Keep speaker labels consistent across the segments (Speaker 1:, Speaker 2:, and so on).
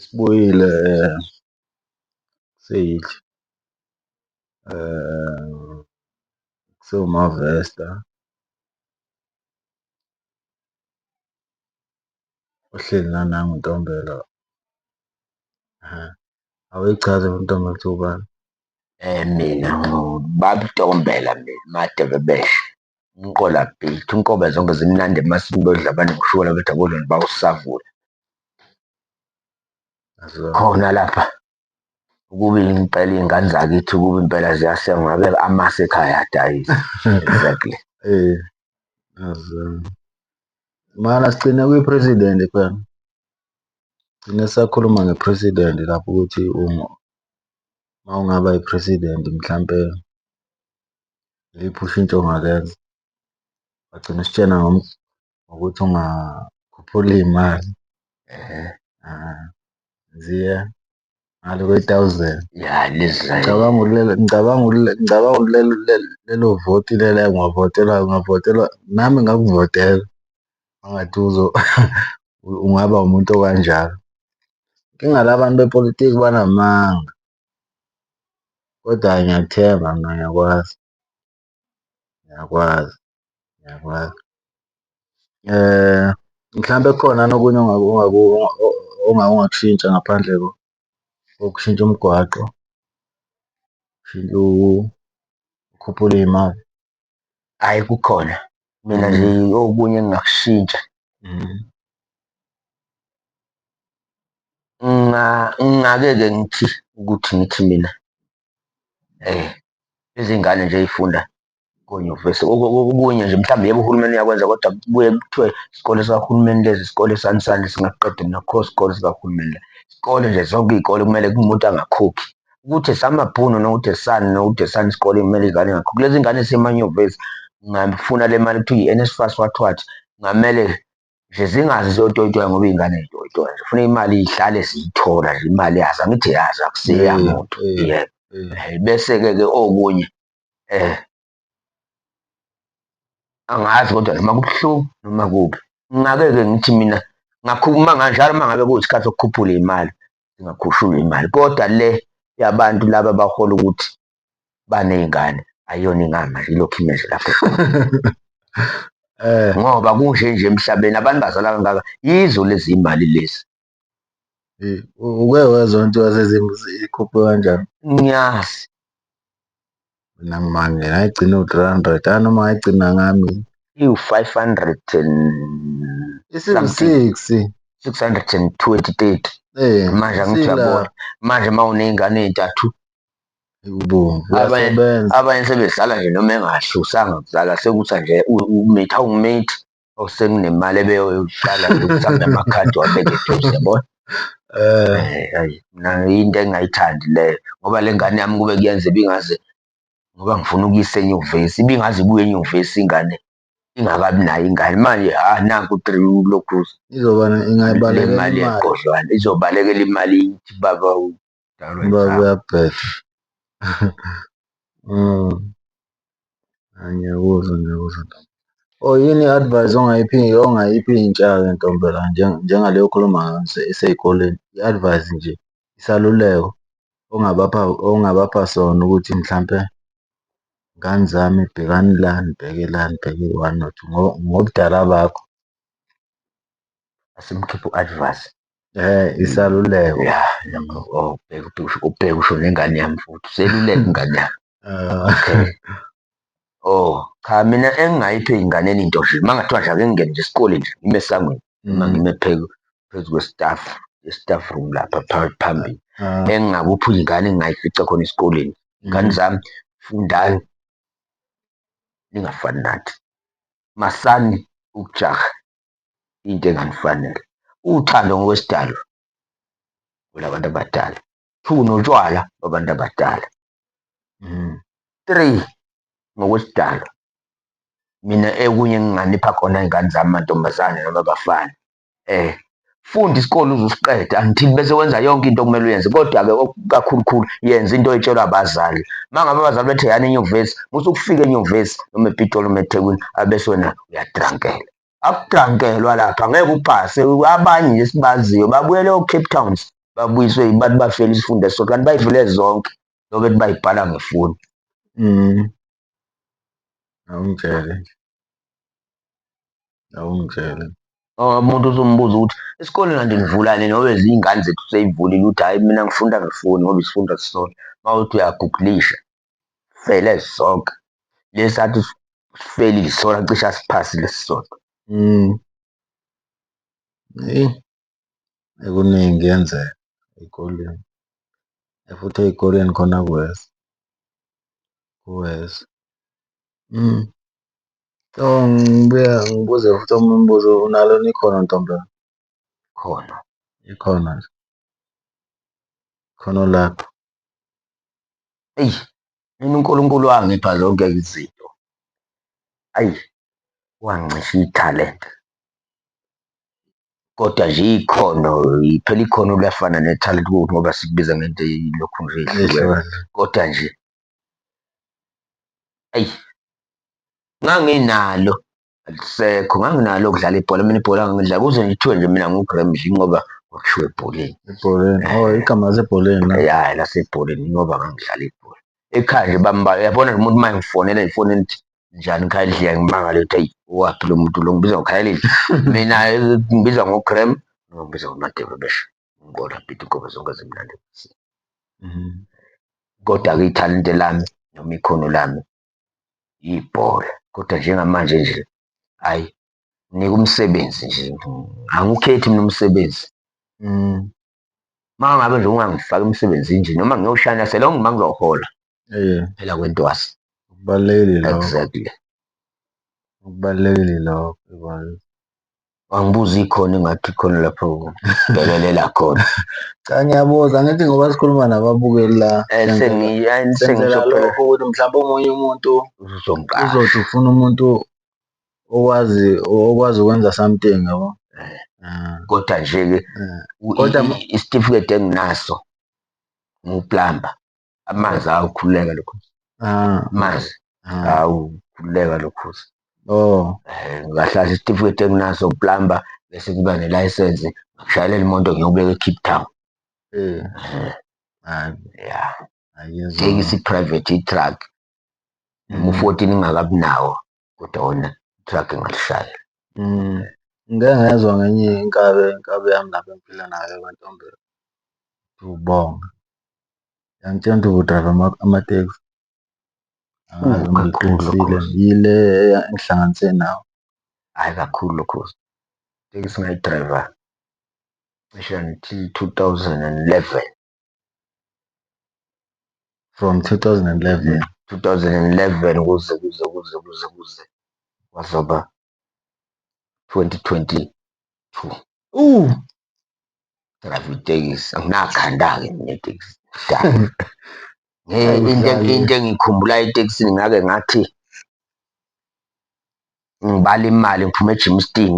Speaker 1: Sibuyile eh, seyidla eh, kusewumavesta ohleli nanangu Ntombela awuyichaze ntombi ukuthi ubani. Eh mina
Speaker 2: ngubabtombela mina madebe beshe umqola beat unkobe zonke zimnandi emasini bodla abantu ngishukela bethi akodloni bawusavula khona lapha ukuba impela iy'ngane zakithi ukuba impela ziyasengwa ngabe amasi ekhaya adayisa exactly
Speaker 1: um mana sigcine kwi-president phela Gcine sakhuluma nge-president lapho ukuthi uma ungaba i-president mhlampe iliphi ushintsho ongalenza. Wagcina usitshena ngokuthi ungakhuphula iy'mali . ngale kwe-thousand ya
Speaker 2: ngicabanga ulele ngicabanga
Speaker 1: ulele ngicabanga ulele lelo voti lelo ngwavotela ngavotela nami ngakuvotela angathi uzo ungaba umuntu okanjalo inkinga la bantu bepolitiki banamanga kodwa ngiyakuthemba mina ngiyakwazi Ngiyakwazi, ngiyakwazi. Mhlampe kukhona yini okunye ongakushintsha ngaphandle kokushintsha umgwaqo, ukukhuphula iy'mali? Hhayi
Speaker 2: kukhona, mina nje okunye engingakushintsha ngingake-ke ngithi ukuthi ngithi mina. Izingane nje ey'funda konyuvesi okunye nje mhlawumbe yebo uhulumeni uyakwenza kodwa kubuye kuthiwe isikole sikahulumeni lesi isikole sani sani singaqeda mina akukho sikole sikahulumeni la. Isikole nje zonke iy'kole kumele kumuntu angakhokhi, ukuthi esamabhunu nokuthi esani nokuthi esani isikole kumele iy'ngane zingakhokhi. Lezi ngane ey'semanyuvesi ngingayifuna le mali ekuthiwa i-NSFAS what what, kungamele nje zingazi ziyotoyitoya ngoba iy'ngane zitoyitoya nje funa imali ihlale ziyithola nje imali yazo angithi yazo akusiya Eh, muntu eh, yebo eh. Eh, bese-ke ke okunye um angazi kodwa noma kubuhlungu noma kubi ngingake-ke ngithi mina ngakhuluma nganjalo uma ngabe kuyisikhathi sokukhuphula imali ngingakhushula imali kodwa le yabantu laba bahola ukuthi baney'ngane ayiyona ingama nje ilokhu ime nje lapho eh. ngoba kunje nje emhlabeni abantu bazala kangaka yizo lezi imali lezi
Speaker 1: eh, uke wezwa nto yasezimbi ikhuphe kanjani ngiyazi mina ngimanje ngayigcina u-three hundred anoma ngayigcina ngami iwu-five hundred and
Speaker 2: isiwu-six
Speaker 1: six
Speaker 2: hundred and twenty thirty eh, manje angithi uyabona manje uma uney'ngane ey'ntathu Ekubomvu uyasebenza. Abanye sebedlala nje noma engasho usanga kuzala sekuthi nje umithi awumithi awusenginemali ebeyoyidlala yokuthanda amakhadi wabeke eduze yabona. Eh ayi mina into engayithandi leyo ngoba le ngane yami kube kuyenza ibingaze ngoba ngifuna ukuyisa enyuvesi ibingaze ibuye enyuvesi ingane ingakabi nayo ingane manje ha nanku u-three ulokhu izoba ingayibalekela imali yegodlwana izobalekela imali ithi baba Kudalwa Uba inhlamba.
Speaker 1: kuyabheda. Mm. Hhayi ngiyakuzwa ngiyakuzwa ntombi. Oh yini i-advice ongayiphi ongayiphi intsha-ke ntombi la njenga- njengale okhuluma ngayo ise- isey'koleni? I-advice nje, isaluleko ongabapha ongabapha sona ukuthi mhlampe ngane zami bhekani la, nibheke la, nibheke one or two ngo ngobudala bakho.
Speaker 2: Asimkhiphe u-advance.
Speaker 1: Isaluleko
Speaker 2: ubheke usho nengane yami futhi, useluleka ingane yami. Okay. Oh, cha mina engingayipha ey'nganeni into nje, uma kungathiwa nje ake ngingene nje esikoleni nje ngime esangweni noma ngime phezu kwe-staff, ye-staff room lapha phambili. Engingakupha iy'ngane engingayifica khona esikoleni, ngane zami fundani ningafani nathi, masani ukujaha, into enganifanele. Uthando ngokwesidalwa olabantu abadala. Two, notshwala babantu abadala. Mm. Three, ngokwesidalwa mina ekunye enginganipha khona iy'ngane zami mantombazane noma abafana eh funda isikole uzusiqeda angithi bese wenza yonke into okumele uyenze kodwa-ke kakhulukhulu yenza into etshelwa abazali uma ngabe abazali bethe yani enyuvesi musa ukufika enyuvesi noma epitoli uma ethekwini abese wena uyadrankela akugankelwa lapha ngeke upase abanye nje sibaziyo babuyele o-cape towns babuyiswe yibantu bafela isifunda esisodwa kanti bayivule zonke lobe ethi bayibhala ngefoni mm.
Speaker 1: awungitshele nje awungitshele umuntu
Speaker 2: uzombuza ukuthi isikole kanti nivulane nobe ziyingane zethu seyivulile ukuthi hhayi mina ngifunda ngefoni ngoba isifunda sisona uma uthi uyagugulisha Sifele sonke. Lesi athi sifelile isona cishe asiphasile sisodwa. Mm.
Speaker 1: Eyi, ekuningi kuyenzeka ey'koleni. Futhi ey'koleni khona kuwesi, kuwesi. Mm. So ngibuya ngibuze futhi omunye umbuzo, unalo yini ikhono ntombi yami? Ikhono,
Speaker 2: ikhono
Speaker 1: nje. Ikhono lakho.
Speaker 2: eyi mina uNkulunkulu wangipha zonke izinto, ayi wangicisha ithalente. Kodwa nje ikhono phela ikhono liyafana nethalente ngoba sikubiza ngento eyilokhu nje ehlukene, kodwa nje eyi nganginalo. alisekho nganginalo ukudlala ibhola mina ibhola ngangidla kuze ngithiwe nje mina ngugremdli ngoba kwakushiwo ebholeni ebholeni oh
Speaker 1: igama lasebholeni la ya lasebholeni
Speaker 2: ngoba ngangidlala ibhola ekhaya nje bamba yabona umuntu uma ngifonela ifoni elithi njani khayidliya ngimangale ukuthi ayi waphi lo muntu lo ngibiza ngokhayelile mina ngibiza ngogrem noma ngibiza ngomadebe besho ngibona bhithi inkobe zonke zimnandi kodwa-ke ithalente lami noma ikhono lami ibhola kodwa njengamanje nje ayi nginika umsebenzi nje angiwukhethi mina umsebenzi mm. Uma ngabe nje ungangifaki emsebenzini nje noma ngiyoshayela selonge uma ngizohola yeah. phela kwentwasi kubalulekile
Speaker 1: exactly kubalulekile lokho
Speaker 2: wangibuza ikhona ingathi khona lapho bekelela khona cha ngiyabuza
Speaker 1: ngithi ngoba sikhuluma nababukeli la eh, sengiyisengizophola lokho ukuthi mhlawumbe omunye umuntu uzongiqala uzothi ufuna umuntu okwazi okwazi ukwenza something yabo eh. ah. kodwa
Speaker 2: nje ke eh. kodwa isitifiketi enginaso nguplamba amanzi awukhululeka lokhozi ah. amanzi ah. awukhululeka lokhozi oh eh,
Speaker 1: ngahlala
Speaker 2: isitifiketi enginaso plamba bese ngiba nelayisensi ngishayelele imoto ngiyobeka ecape town eh. eh ya take isiprivate itruck mu-fourteen ingakabi nawo kodwa wena i-truck ingakushaya.
Speaker 1: Ngike ngezwa ngenye inkabi, inkabi yami lapho engiphila nayo KwaNtombela, uBonga. Yangitshena ukuthi udrayiva amatekisi yile engihlanganise nawe. Hhayi kakhulu
Speaker 2: lokhu itekisi engayidrayiva cishe ngithi two thousand and eleven.
Speaker 1: from 2011
Speaker 2: 2011 kuze kuze kuze kuze kuze kwazoba 2022 uh drive itekisi anginakhanda-ke mina itekisi into engiyikhumbulayo etekisini ngake ngathi ngibala imali ngiphume eGymston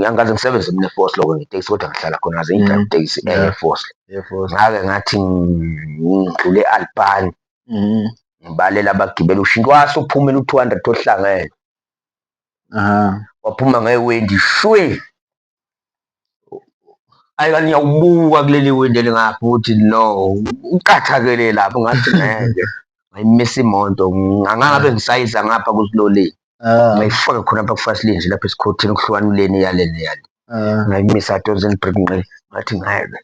Speaker 2: angikaze ngisebenze mina eForce lokho ngetekisi kodwa ngihlala khona ngaze ngidrive mm. itekisi eh, eya eForce ngake ngathi ngidlule e-Albani mm. ngibalela abagibeli ushintsha wase uphumela u-200 ohlangene waphuma ngewendi shwe Ayi kanti ngiyawubuka kuleli windi elingapha ukuthi no uqathakele lapho ngathi ngeke ngayimisa imoto ngangabe ngisayiza ngapha kusiloleni ah. ngayifaka khona apha kufasilini nje lapha esikhothini kuhlukanuleni yaleni yale ah. ngayimisa adonsen break nqe ngathi ngeke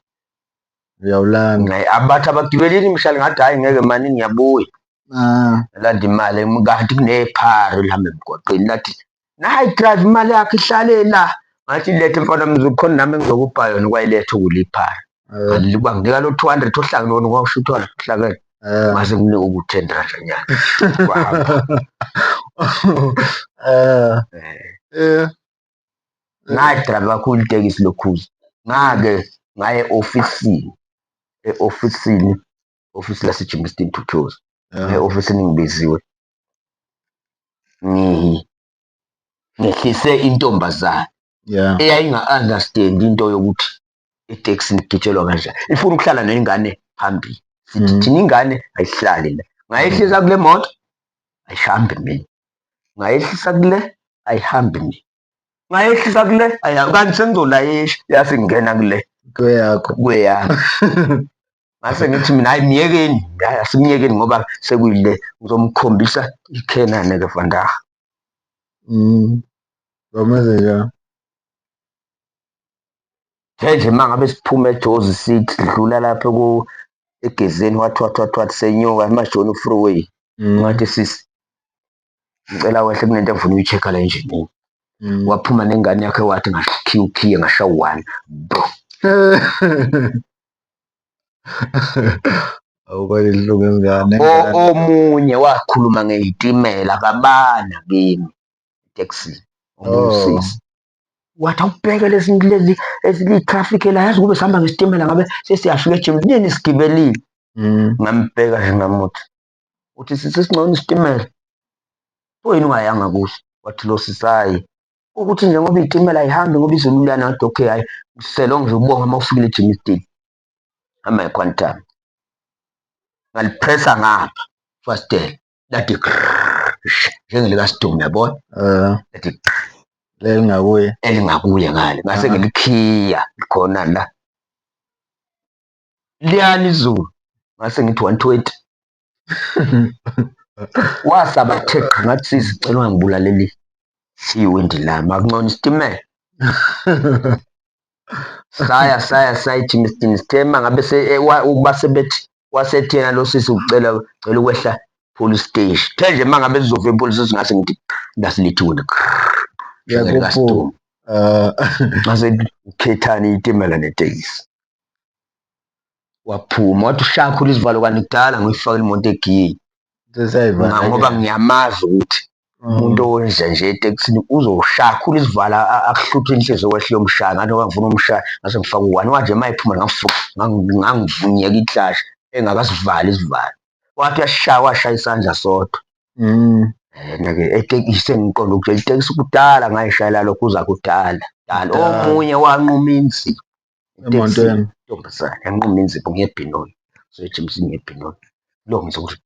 Speaker 1: uyawulanda abathi
Speaker 2: abagibelini mhlali ngathi hhayi ngeke mani ngiyabuya ah. landa imali kanti kunephari lihambe emgwaqeni lathi nayi drive imali yakhe ihlale la ngathi lethe mfana mzukhona nami ngizokupha yona kwayiletha ukuliphara ngaliba nginika lo 200 ohlangene wona kwasho uthwala uhlangene mase kunika uku 10 rand nyana eh eh ngayi drive kakhulu itekisi lokhuza ngake ngaye ofisini e-ofisini ofisi laseJimmiston Tuthozi e-ofisini ngibiziwe ngehlise intombazane yeah. eyayinga-understand into yokuthi iteksini kugitshelwa kanjani ifuna ukuhlala nengane phambili sithi mm. thina ingane ayihlali la ngayehlisa kule moto ayihambi mina ngayehlisa kule ayihambi mina ngayehlisa kule aya kanti sengizolayisha yase ngena kule
Speaker 1: kweyakho kweyakho
Speaker 2: ngase ngithi mina hayi myekeni hayi asimyekeni ngoba sekuyile ngizomkhombisa ikhenane ke vandaha mm
Speaker 1: bameze
Speaker 2: ya nje mangabe siphuma ejozi sithi dlula lapho ku egezeni wathwathwathwathi senyuka emajoni freeway mm. ngathi sisi ngicela wehle kunento engifuna uyi-check-a la enjinini Mm. waphuma nengane yakhe wathi ngakhiya ukhiye ngasha one bro
Speaker 1: awukwale lungu ingane O- omunye
Speaker 2: wakhuluma ngeyitimela kabana kimi taxi Oh. ongusisi wathi awubheke lezi lezi eziyi-traffic la yazi kube sihamba ngesitimela ngabe sesiyafika ejimini nini sigibelile Mm. ngambheka nje ngamuthi uthi sisi singcono isitimela pho yini ungayanga kuso wathi lo sisayi ukuthi nje ngoba iyitimela ayihambi ngoba izulu liyana ngathi okay hhayi mselo nje ubonge uma ufikile ejima isitini hamba equantum ngalipressa ngapha fastela lathi njengelikasidumi yabona eh. lathi elingakuye elingakuye ngale ngase ngilikhiya khona la liyana izulu ngase ngithi 120 wasaba theqa ngathi sisi cela ungangibulaleli siwindi lami akuncona isitimela saya saya sayithi mistini sithema ngabe eh, ukuba sebethi wasethena lo sisi ucela cela ukwehla police station the nje uma ngabe sizova epolice station ngase ngithi ngasilithiwe wena yebo ngasekhethani itimela netekisi waphuma wathi ushakhula izivalo kanti kudala ngiyifakile imoto egiyeni ngoba ngiyamazi ukuthi umuntu owenza nje etekisini uzoshakhula isivala akuhluthe inhliziyo kwehle yomshaya ngathi ngoba ngifuna umshaya ngase ngifaka uwani wanje uma ephuma ngangivunyeka iklashi engakasivali isivalo wathi uyashaya washaya isandla sodwa mm. yena-ke etekisi sengiqonda ukuthi itekisi kudala ngayishayela lokho uza kudala dala omunye wanquma inzima Iteksini intombazane yanquma inzipho ngebhinoyi, soyijimisa ngebhinoyi. Lo ngizwa ukuthi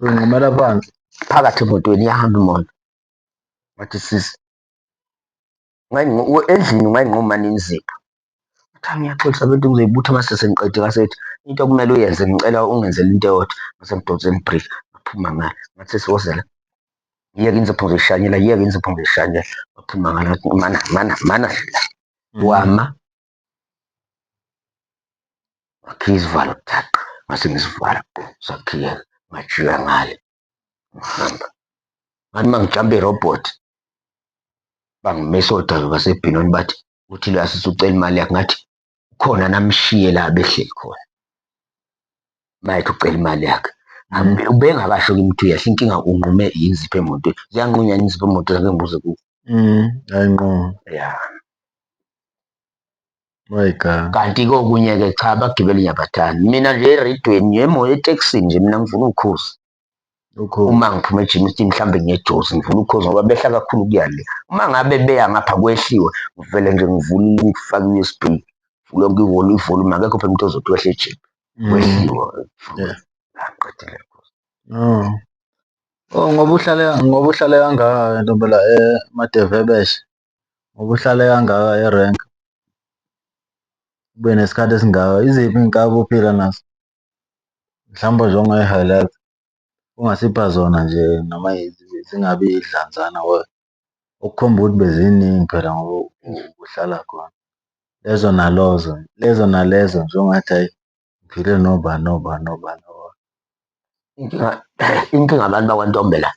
Speaker 2: Uyinqumela
Speaker 1: phansi. phakathi emotweni
Speaker 2: iyahamba imoto. Wathi sisi, ungayinqu- u- endlini ungayinquma nini inzipho? Wathi "Ah, ngiyaxolisa bento ngizoyibutha uma sesengiqedile. Ngase ethi, into okumele uyenze ngicela ungenzele into eyodwa. Ngase ngidonsela ibhriki, ngaphuma ngale. Ngathi sisi woza la. yeke inzipho ngishanyela yeke inzipho ngishanyela wathi mangala mana mana mana dlula mm. wama wakhiya izivalo thaqa ngase ngisivala sakhiyeka ngajika ngale ngihamba ngathi uma ngijambe irobhothi bangimisa odaba basebhinoni bathi uthile asise ucela imali yakhe ngathi khona namshiye la behleli khona mayethu ucela imali yakhe ubengakasho kimi ukuthi uyehla inkinga unqume yinzipho emontweni ziyanqunywa yini izipho emontweni ake ngibuze ku ayinquma
Speaker 1: ya my god kanti kokunye-ke cha
Speaker 2: abagibeli ngiyabathanda mina nje eredweni yemo etekisini nje mina ngifuna ukukhuza uma ngiphuma ejimi sithi mhlawumbe ngiyejozi ngivula ukhozi ngoba behla kakhulu kuya le uma ngabe beya ngapha kwehliwe ngivele nje ngivule ngifake u-usb lonke ihholo ivolume akekho phela umuntu ozothi wehle ejimi mm. kwehliwe aqedile oh. oh
Speaker 1: ngoba uhlale ngoba uhlale kangaka ntombela emadevebeshe eh, ngoba uhlale kangaka erenk ube nesikhathi esingaka iziphi iy'nkabi ophila nazo Mhlawumbe nje ongayi-highlight ungasipha zona nje noma zingabi idlanzana okukhomba ukuthi beziningi phela ngoba ubuhlala khona. Lezo nalozo, lezo nalezo nje ongathi ayi ngiphile nobani nobani nobani nobani.
Speaker 2: Inkinga inkinga abantu bakwaNtombela.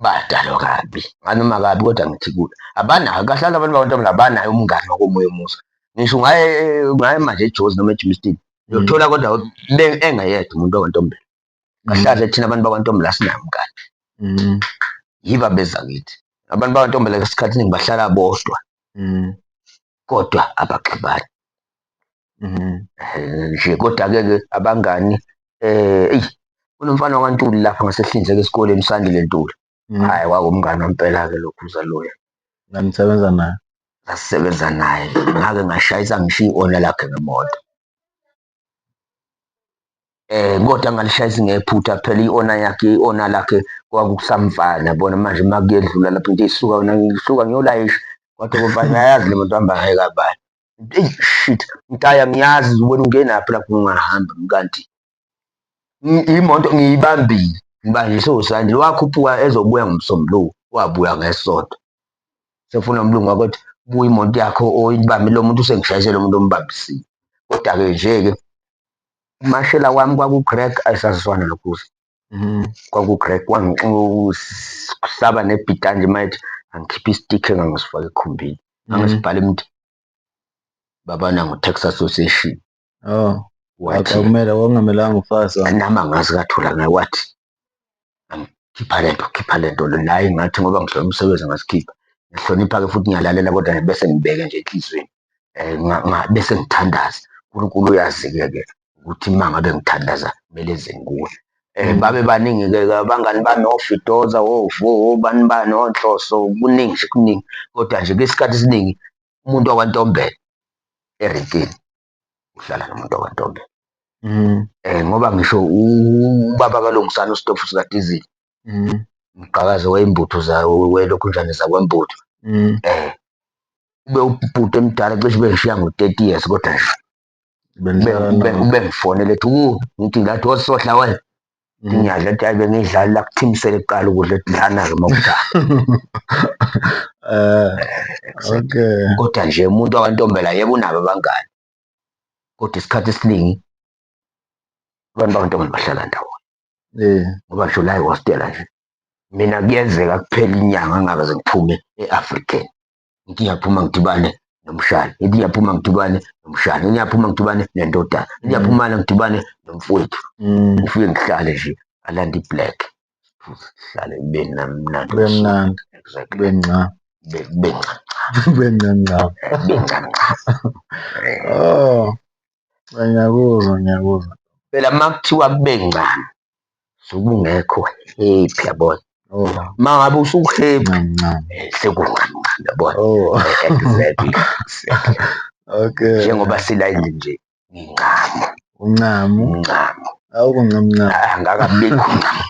Speaker 2: badalwa kabi nganoma kabi kodwa ngithi kude abanayo kahle abantu bakwantombazane abanayo umngani wakomoya omusa ngisho ungaye ungaye manje ejozi noma ejimistin uyothola kodwa engeyedwa umuntu wakwantombela kahle kahle thina abantu bakwantombela asinayo umngani mm. yiba beza kithi abantu bakwantombela esikhathi ningi bahlala bodwa mm. kodwa abaxabani Mhm. Eh, nje kodwa-ke ke abangani eh eyi kunomfana wakwaNtuli lapha ngasehlinzeka esikoleni uSandile Ntuli Mhm. hhayi kwakumngani wampela-ke lokhu uZaloya Nanisebenza
Speaker 1: naye. ngasisebenza
Speaker 2: naye ngake ngashayisa ngishiya i-ona lakhe ngemoto eh kodwa ngalishayisa ngephutha phela i-ona yakhe i-ona lakhe kwakusamfana bona manje uma kuyedlula lapho into isuka yona ngisuka ngiyolayisha kodwa kumfana ayazi le moto hamba ngayo kabani Eyi shit, mtaya ngiyazi wena ungenaphi lapho ungahamba kanti imoto ngiyibambile ngiba ngisho usanje wakhuphuka ezobuya ngomsombuluko wabuya ngesonto sefuna umlungu wakothi buya imoto yakho oyibambe lo muntu usengishayise lo muntu ombambisile kodwa-ke nje-ke umashela wami kwaku-greg ayisaziswana lokhuza Mm, kwaku-greg kusaba nebhita nje mayethi angikhiphe istikhe engangisifake ekhumbini mm. angisibhale mntu babana ngo-tax association
Speaker 1: oh wakumele
Speaker 2: kwakungamelanga
Speaker 1: ufase nami angazi kathula
Speaker 2: ngaye wathi angikhipha le nto khipha le nto naye ngathi ngoba ngihlole umsebenzi ngasikhipha ngihlonipha-ke futhi ngiyalalela kodwa bese ngibeke nje enhliziyweni um bese ngithandaza uNkulunkulu uyazi-ke ke ukuthi uma ngabe ngithandaza kumele zenguwe um mm. babe baningi-ke abangani bami ofidoza ovo obani bani onhloso kuningi nje kuningi kodwa nje kwesikhathi esiningi umuntu wakwantombela erekeni uhlala nomuntu wakwantombela um ngoba ngisho ubaba kalungisana usitofu sikadizili mm. mgqakazi wey'mbuthu welokhunjane zakwembuthu mm. eh ube ubhuti emdala cishe ube ngishiya ngo-thirty years kodwa nje ube ngifonele ethi ku ngithi ngathi osohla wena mm. ngiyadla ethi ayi bengiyidlali la kuthimisele kuqala ukudla ethi dlana-ke uma kudlala eh,
Speaker 1: eh, kodwa nje umuntu
Speaker 2: wakantombela yebo unabo abangani kodwa isikhathi esiningi abantu bakantombi bahlala ndawonye eh. ngoba ngisho la ihostela nje mina kuyenzeka kuphela inyanga ngingakaze ngiphume e-african ngithi ngiyaphuma ngidibane nomshana ngithi ngiyaphuma ngidibane nomshana ngithi ngiyaphuma ngidibane nendodana ngithi ngiyaphumana ngidibane nomfowethu mm. ngifike ngihlale nje alanda iblack sihlale kube namnandi kube mnandi
Speaker 1: exactly kube nca kube nca
Speaker 2: kube nca nca
Speaker 1: kube nca nca oh ngiyakuzwa ngiyakuzwa phela makuthiwa
Speaker 2: kube ncane sokungekho happy yabona oh. ma ngabe usuhappy eh, sekunqanqane yabona oh. eh, okay
Speaker 1: njengoba sila
Speaker 2: endlini nje Ngincamo. Uncamo.
Speaker 1: Uncamo. Awukho ncamu ncamu. Ah, Ngakabikho
Speaker 2: uncamo.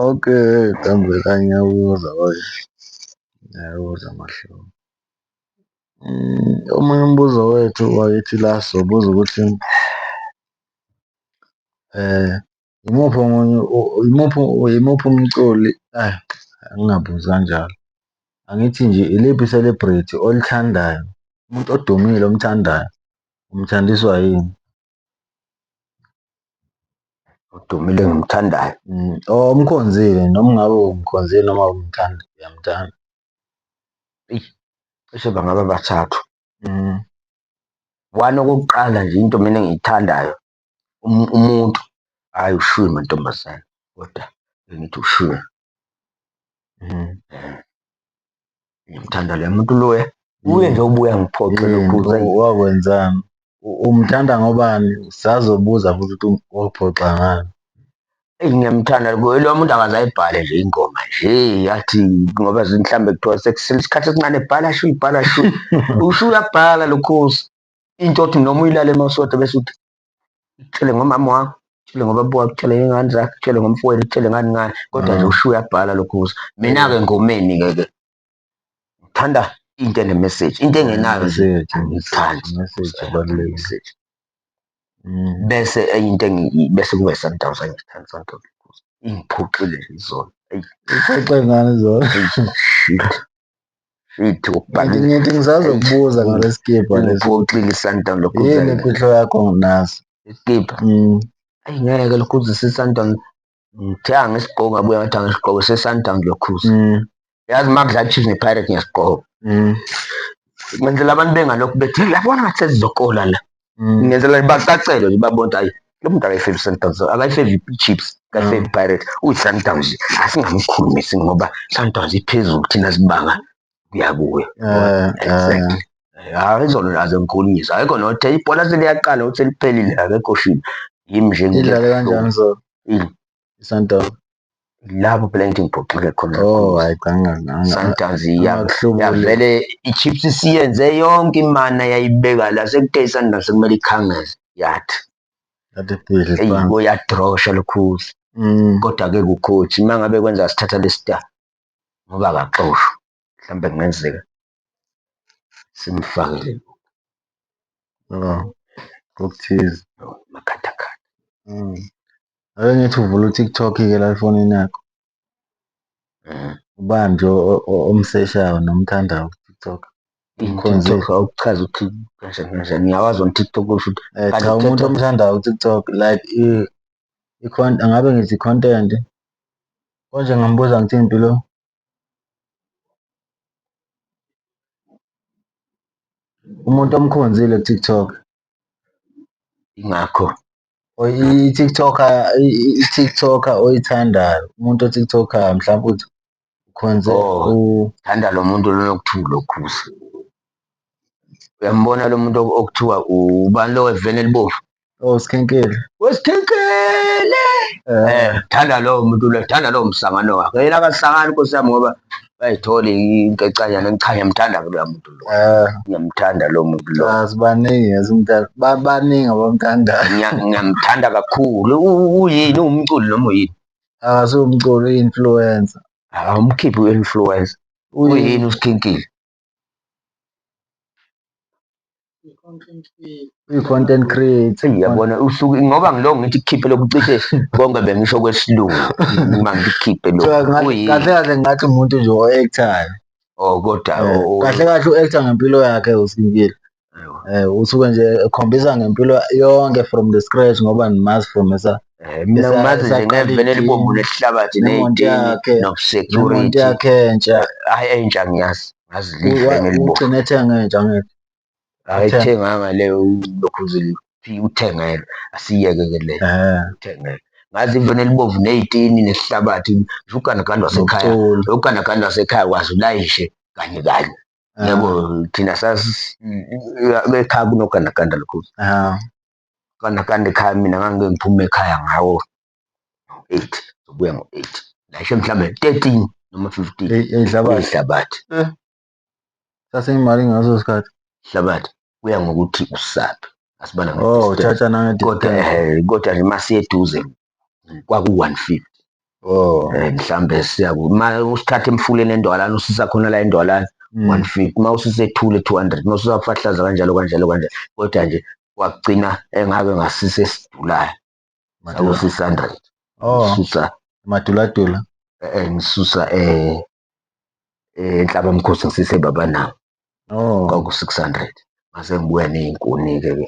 Speaker 2: Okay,
Speaker 1: Dambela ngiyakuzwa oye. Ngiyakuzwa mahlobo. Mm, Omunye umbuzo wethu wakithi la sobuza ukuthi eh Yimuphi omunye yimuphi yimuphi umculi ayi angingabuzi kanjalo. Angithi nje iliphi i-celebrity olithandayo, umuntu odumile omthandayo, umthandiswa yini?
Speaker 2: Odumile engimthandayo. Mm, omkhonzile
Speaker 1: noma ngabe umkhonzile noma umthanda uyamthanda. Eyi,
Speaker 2: cishe bangaba bathathu. Mm. One okokuqala nje into mina engiyithandayo umuntu hhayi ushwiwe mantombazane koda bengithi ushwiwe ngimthanda loya muntu loya uye nje ubuya ngiphoxe wakwenzani
Speaker 1: umthanda ngobani sazobuza futhi ukuthi waphoxa ngani eyi
Speaker 2: ngiyamthanda loya muntu akaze ayibhale nje ingoma nje yathi ngoba mhlawumbe kuthiwa sekusele isikhathi esincane bhala shu ibhala shu usho uyabhala lokhozi into othi noma uyilale mawusodwa bese uthi tshele ngomama wakho tshele ngobaba wakho tshele ngey'ngane zakho tshele ngomfowenu tshele ngani ngani kodwa nje usho uyabhala lokhu kuzo mina-ke ngomeni-ke ke ngithanda into enemeseji into engenayo nje angiyithandi
Speaker 1: message
Speaker 2: bese enye into engi- bese kuba i-sundowns angiyithandi sundowns ingiphoxile nje izolo Eyi, Ixoxe
Speaker 1: ngani zona? shit
Speaker 2: Fithi ukubhangile. Ngithi ngisazo
Speaker 1: kubuza ngale skibha lesi. Ngikuxile iSundowns lokhu.
Speaker 2: Yini imfihlo yakho
Speaker 1: nginazo? Iskibha. Mm.
Speaker 2: Ayi ngeke lokhu uzisa iSundowns. Ngithe angisigqoki ngabuya ngathi angisigqoki seSundowns lokhu. Mm. Yazi makudla Chiefs nePirates ngiyasigqoka. Mm. Kwenzela abantu bengalokhu bethi yabona ngathi sesizokola la. mm. ngenzela bacacelwe nje babona ukuthi ayi lo muntu akayifevi sundowns akayifevi chips akayifevi mm. pirate uyi-sundowns asingamkhulumisi ngoba sundowns iphezulu thina sibanga kuya kuyo eh, exactly eh. hayi izona nazo ngikhulumisa akekho nothe ibhola seliyaqala ukuthi seliphelile akekho shini yimi nje ngidlale kanjani so
Speaker 1: Sundowns
Speaker 2: lapho phela ngithi ngiphoxeke khona oh hayi
Speaker 1: Sundowns
Speaker 2: yavele i-Chiefs isiyenze yonke imana yayibeka la sekuthe i-Sundowns sekumele ikhangeze yathi eyibo yadrosha lokhuzi mm. kodwa-ke kukhothi uma ngabe kwenza sithatha lesita ngoba akaxoshwa mhlawumbe kungenzeka simfakele
Speaker 1: okuthize makhathakhatha.
Speaker 2: Mm.
Speaker 1: Ake ngithi uvula uTikTok-ke la efonini yakho. Mm. Ubani nje omseshayo nomthandayo kuTikTok? Ikhonze
Speaker 2: okuchaza ukuthi kanjani kanjani ngiyawazi on TikTok usho ukuthi eh, cha umuntu omthandayo
Speaker 1: kuTikTok like i-content ngabe ngithi content konje ngambuza ngithini impilo Umuntu omkhonzile ku-TikTok. Ingakho
Speaker 2: or i-TikToker
Speaker 1: i-TikToker oyithandayo, umuntu o-TikToker-yo mhlampe uthi ukhonze u-. Thanda
Speaker 2: lo muntu lona okuthiwa uLokhuzi. Uyambona lo muntu okuthiwa ubani lo weveni elibomvu? Oh Skhenkele.
Speaker 1: Weskhenkele.
Speaker 2: Eh, thanda lowo muntu lo, thanda lowo msangano wakhe. Yena akasangani Nkosi yami ngoba bayithola inkecanyana ngichanye mthanda ke loya muntu lo. Eh, Ngiyamthanda lo muntu lo. ah, sibaningi esimthanda.
Speaker 1: Ba- Baningi abamthandayo. Ngiya- Ngiyamthanda
Speaker 2: kakhulu. U- Uyini umculi noma uyini? Akasiwumculi
Speaker 1: i-influencer. Awumkhiphi
Speaker 2: u-influencer. Uyini uSkhinkile?
Speaker 1: Content creator. Uyabona usuke
Speaker 2: ngoba ngiloko ngithi kukhiphe lokhu cishe konke bengisho kwesilungu uma ngikukhiphe lokhu. Kahle kahle ngathi
Speaker 1: umuntu nje o-actayo. Oh kodwa
Speaker 2: eh, kahle kahle
Speaker 1: u-acta ngempilo yakhe uSimpilo. Eh usuke nje ekhombisa ngempilo yonke from the scratch ngoba nimazi from esa eh, mina ngimazi
Speaker 2: nje ngevele libombu lesihlabathi neyintini nokusecurity
Speaker 1: yakhe
Speaker 2: entsha
Speaker 1: hayi entsha
Speaker 2: ngiyazi ngazi lihle ngelibombu ugcine ethenga entsha
Speaker 1: ngeke ayithenganga
Speaker 2: leyo lokhu uthengelwe asiyeke ke leyo eh. uthengelwe ngazi ivene libomvu neyitini nesihlabathi uganaganda wasekhaya uganaganda wasekhaya wazi ulayishe kanye kanye yabo thina saekhaya kunogandaganda lukhulu gandaganda ekhaya mina ngangike ngiphume ekhaya ngawo eight sobuya ngo-eight lashe mhlawumbe thirteen noma fifteen ihlabathi eh.
Speaker 1: saseyimali ngaso sikhathi ihlabathi
Speaker 2: kuya ngokuthi usaphi asibala oh, kodwa nje masiyeduze kwaku 150 oh eh, mhlambe siya ma usikhathe emfuleni endwalana usisa khona la endwalana 150 mm. ma usise ethule 200 ma usisa fahlaza kanjalo kanjalo kanjalo kodwa nje kwagcina engake ngasise sidulayo maku 600 oh susa maduladula
Speaker 1: eh, eh ngisusa
Speaker 2: eh, eh enhlaba mkhosi ngisise baba nawo oh kwaku 600 mase ngibuya nezinkuni ke ke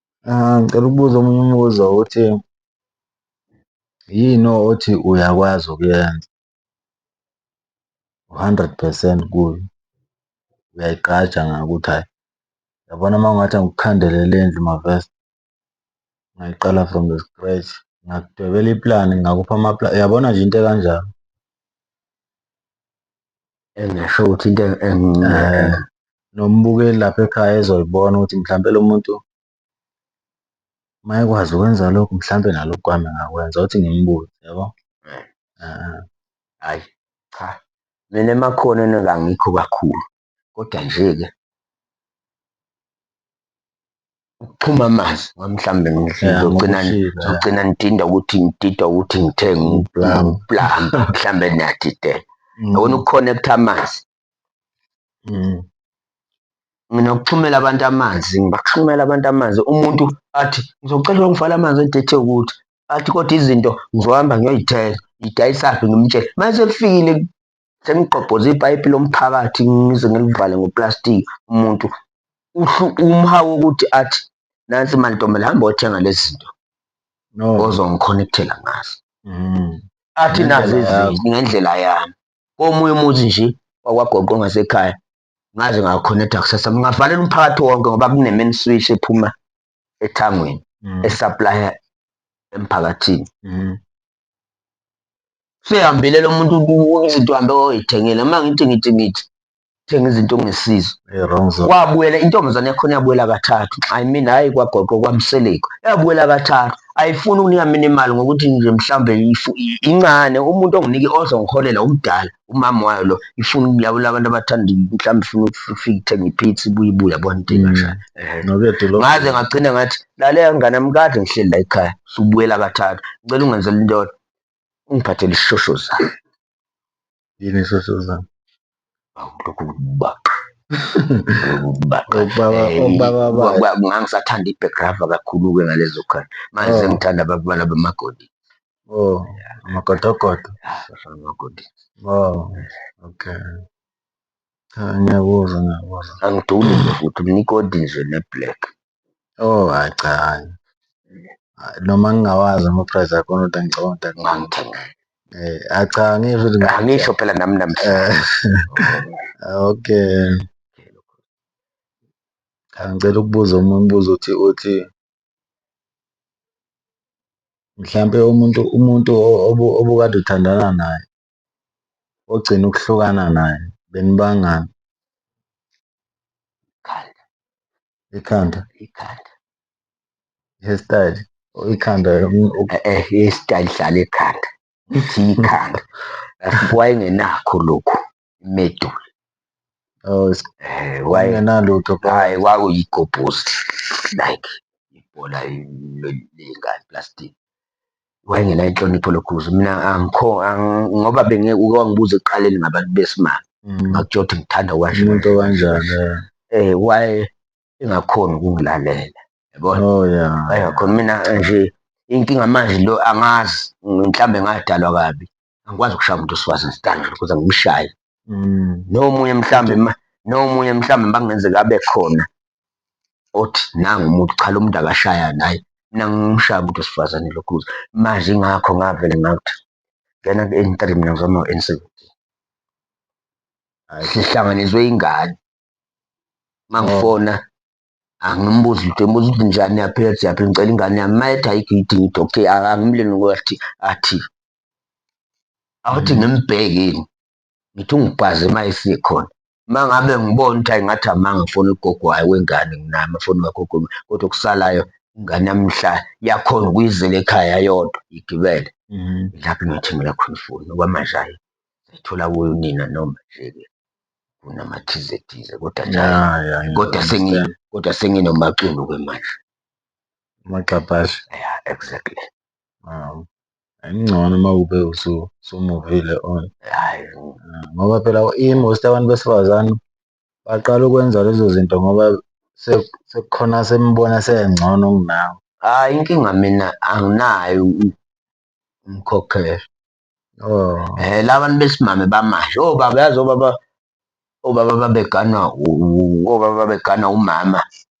Speaker 1: Ah, ngicela ukubuza omunye umbuzo ukuthi yini othi uyakwazi ukuyenza u-hundred percent kuyo, uyayigqaja ngakho ukuthi hhayi yabona uma kungathiwa ngikukhandele le ndlu mavese ngayiqala from the scratch, ngingakudwebela iplani ngingakupha yabona nje into ekanjalo.
Speaker 2: engasho ukuthi into eh, nombukeli
Speaker 1: lapha ekhaya ezoyibona ukuthi mhlawumbe lo muntu mayekwazi ukwenza lokhu mhlawumbe nalokhu kwami ngakwenza ukuthi ngimbuze yabo eh. eh,
Speaker 2: hayi cha mina emakhoneni kangikho kakhulu kodwa nje-ke ukuxhuma amanzi noma mhlawumbe ngizogcina ngizogcina ngidinda ukuthi ngidida ukuthi ngithenge uplamba mhlawumbe niyadidela mm. yona ukukhonekta amanzi mm. mina ukuxhumela abantu amanzi ngibaxhumela abantu amanzi umuntu athi ngizocela ukungifala amanzi edethe ukuthi athi kodwa izinto ngizohamba ngiyoyithenga ngidayisaphi ngimtshele mase kufikile sengigqobhoze ipayipi lomphakathi ngize ngilivale ngoplastiki umuntu umhawu ukuthi athi nansi mantombela hamba othenga lezi zinto no. ozongikhonekthela ngazo mm. athi nazi izinto ngendlela yami komunye umuzi nje wakwagoqo ngasekhaya ngaze ngakhonektha kusasa ngingavalela umphakathi wonke ngoba kunemeni switch ephuma ethangweni mm. esaplaya emphakathini mm. sehambile lo muntu izinto hambe oyithengele uma ngithi ngithi ngithi thenga izinto ongesizo wabuyela
Speaker 1: intombazane yakhona
Speaker 2: yabuyela kathathu i mean hhayi kwagoqo kwamseleko yabuyela kathathu ayifuni ukunika mina imali ngokuthi nje mhlawumbe incane umuntu onginike ozongiholela umdala umama wayo lo ifuna ukulawula abantu abathanda mhlawumbe ifuna ukufika ithenga iphithi ibuye ibuye yabona into mm. engashayo ngaze ngagcina ngathi lalela ngane yami kade ngihleli la ekhaya subuyela kathathu ngicela ungenzela into yodwa ungiphathele isishosho zami
Speaker 1: yini isishosho zami awu lokhu
Speaker 2: kubaqa ngangisathanda i-backgrava kakhulu-ke ngalezo khona manje oh. sengithanda ababala bamagodi Oh,
Speaker 1: amakotokoto. Safana makoti.
Speaker 2: Oh,
Speaker 1: okay. Cha ngiyakuzwa ngiyakuzwa. Angiduli nje
Speaker 2: futhi umnikoti nje ne-black. Oh,
Speaker 1: hayi cha hayi. Hayi, Noma ngingawazi ama-price akhona kodwa ngicabanga ukuthi akhona. Ngangithenga.
Speaker 2: Eh, hayi cha
Speaker 1: ngisho ukuthi ngi- Angisho phela nami namhla.
Speaker 2: Eh,
Speaker 1: okay. Cha ngicela ukubuza omunye umbuzo uthi uthi Mhlampe umuntu umuntu obukade uthandana naye ogcina ukuhlukana naye benibangani. Ikhanda. Ikhanda? Ikhanda. I-hair style or ikhanda i-hair
Speaker 2: style ihlala ekhanda. Ithi ikhanda wayengenakho lokhu. imedula
Speaker 1: Oh, is- Eh, waye- engenalutho bro. hayi
Speaker 2: kwakuyigobhozi like ibhola le- lengane plastic wayengena inhlonipho lokhuzi mina angikho ang- ngoba benge uke wangibuza ekuqaleni ngabantu besimame Mm. ngakutsho ukuthi ngithanda kwanje umuntu okanjani
Speaker 1: eh. eh waye
Speaker 2: engakhoni ukungilalela yabona oh yeah wayengakhoni
Speaker 1: mina
Speaker 2: nje inkinga manje lo angazi mhlawumbe ngadalwa kabi angikwazi ukushaya umuntu wesifazane standard kuze ngimshaye mm. nomunye mhlawumbe nomunye mhlawumbe makungenzeka abe khona othi nangu umuntu cha lo muntu akashaya naye mina ngimshaya umuntu wesifazane lokhu kuze manje ingakho ngavele ngakuthi ngena ku-n three mina ngizoma u-n seventeen sihlanganiswe ingane mangifona oh. angimbuzi lutho ngibuza ukuthi njani yaphi yathi yaphi ngicela ingane yami uma ethi ayikho idinga ukuthi okay angimleni ukuthi athi awuthi ngimbheki yini ngithi ungibhaze uma esikhona uma ngabe ngibona ukuthi ayi ngathi amanga funa ugogo wayo wengane nginayo amafoni kagogo kodwa okusalayo ingane yami mhla yakhona ukuyizela ekhaya yodwa igibele mhm. lapho ngithengela khona ifoni okwamanje ayi sayithola kuyo nina noma nje-ke kunamathizethize kodwa njalo kodwa sengi kodwa senginomaculo-ke manje
Speaker 1: umagxabhashe yeah
Speaker 2: exactly um Kungcono
Speaker 1: uma ube usumuvile on. Hhayi bo.
Speaker 2: Ngoba phela
Speaker 1: i-most abantu besifazane baqala ukwenza lezo zinto ngoba sekukhona asembona esengcono kunawe. Hhayi inkinga
Speaker 2: mina anginaye umkhokheli.
Speaker 1: Oh. Eh la bantu
Speaker 2: besimame bamanje obaba oh, yazi obaba obaba babeganwa u- u- obaba babeganwa umama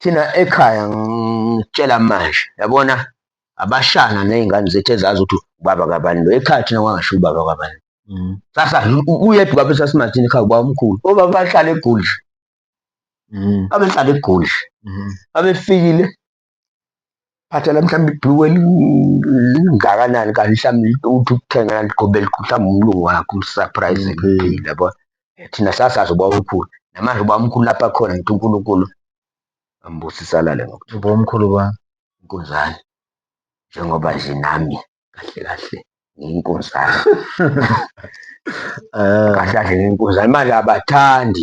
Speaker 2: Thina ekhaya ngitshela manje, yabona abashana nezingane zethu ezazi ukuthi ubaba kabani lo. Ekhaya thina kwangasho ubaba kabani. Mm. Sasa uyedwa ubaba esasimathini ekhaya ubaba omkhulu. Obaba bahlala eGoli. Mm. Abehlala eGoli. Mm. Abefikile phathela mhlawumbe ibhuku elingakanani kanti mhlawumbe uthi ukuthenga ligobele mhlawumbe umlungu wakho umsurprise eliphile yabo thina sasazi uba umkhulu namanje uba umkhulu lapha khona ngithi unkulunkulu ambusisa lale ngokuthi uba umkhulu ba
Speaker 1: inkunzane
Speaker 2: njengoba nje nami kahle kahle ngiyinkunzane kahle kahle ngiyinkunzane manje abathandi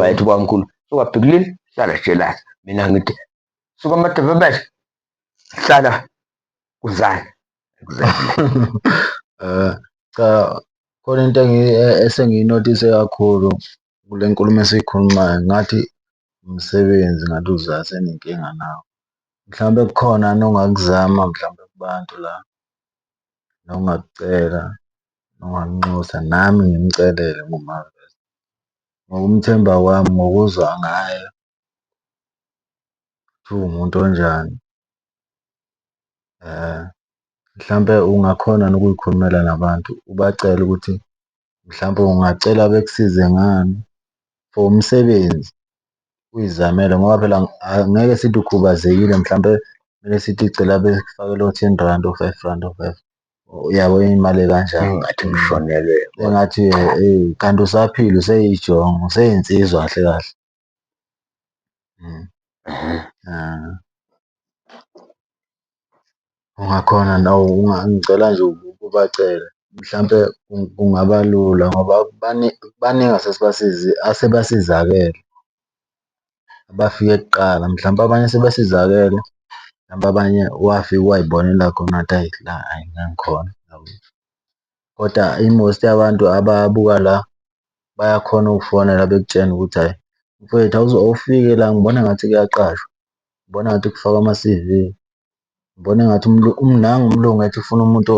Speaker 2: wayethi kwamkhulu sukabhikulile hlala jelasi mina ngithi suka amadevebeshe hlala kuzana eh,
Speaker 1: cha khona into e-, esengiyinotise kakhulu kule nkulumo esiyikhulumayo ngathi umsebenzi ngathi uzase nenkinga nawo mhlawumbe kukhona nongakuzama mhlawumbe kubantu la nongakucela noMaNxusa nami ngimcelele kuMaVest. Ngokumthemba kwami ngokuzwa ngaye ukuthi uwumuntu onjani mhlampe ungakhona yini ukuyikhulumela nabantu ubacele ukuthi mhlampe ungacela bekusize ngani for umsebenzi uyizamele ngoba phela angeke sithi ukhubazekile mhlampe mele sithi cela bekufakele o-ten randi, o-five randi, o-five randi. Uyabo imali ekanjani ngathi ngishonelwe
Speaker 2: engathi eyi
Speaker 1: kanti usaphila useyijongo useyinsizwa kahle kahle. Ungakhona nawe ngicela nje ubacele mhlampe kungaba lula ngoba baningi asebasizakele. abafike kuqala mhlawumpe abanye sebesizakele mhlawumpe abanye wafika wayibonela khona ukuthi ayi la ayi ngikhona koda i-most yabantu ababuka la bayakhona ukufonela bekutshene ukuthi hhayi mfwethu awufike la ngibona ngathi kuyaqashwa, ngibona ngathi kufakwa ama-C_V, ngibona engathi nangu umlungu ethi ufuna umuntu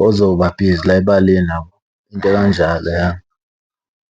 Speaker 1: ozoba bhizi la ebaleni yabo, into ekanjalo ya.